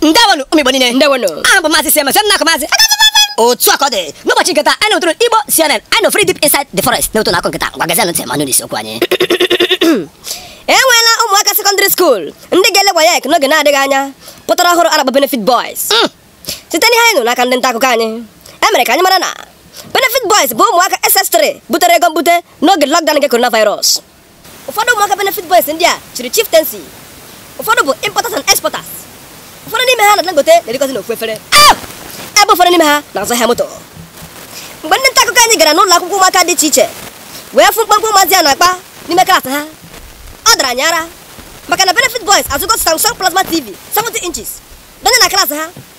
ndewonụ ụmụ igbo niile ndewonụ aha m bụ maazị siemens nna akụ maazị otu a ka ọ dị n'ụbọchị nke taa anyị na-ụtụrụ igbo cnn anyị nọ free deep inside the forest na-ụtụ na akụ nke taa ngwa gezienụ ntị ma nụ n'isi okwu anyị e nweela ụmụaka sekọndịrị skuul ndị ga-ele waec n'oge na-adịghị anya pụtara ọhụrụ a na-akpọ benefit boys site n'ihe anyị nụ n'aka ndị nta akụkọ anyị e mere ka anyị mara na benefit boys bụ ụmụaka ss3 butere ego mbute n'oge lockdown nke coronavirus ụfọdụ ụmụaka benefit boys ndị a chiri chieftaincy ụfọdụ bụ importers and exporters ụfọdụ n'ime ha na dangote na-erikọzi n'ofu efere ebe ụfọdụ n'ime ha na-azụ ahịa moto mgbe ndị nta akụkọ anyị gara n'ụlọ akwụkwọ ụmụaka dị iche iche wee fụ mkpamkpa ụmụazị a na-akpa n'ime klaasị ha ọ dara anyị ara maka na benefit boys azụgo samsung plasma tv 70 inches dọnye na klaasị ha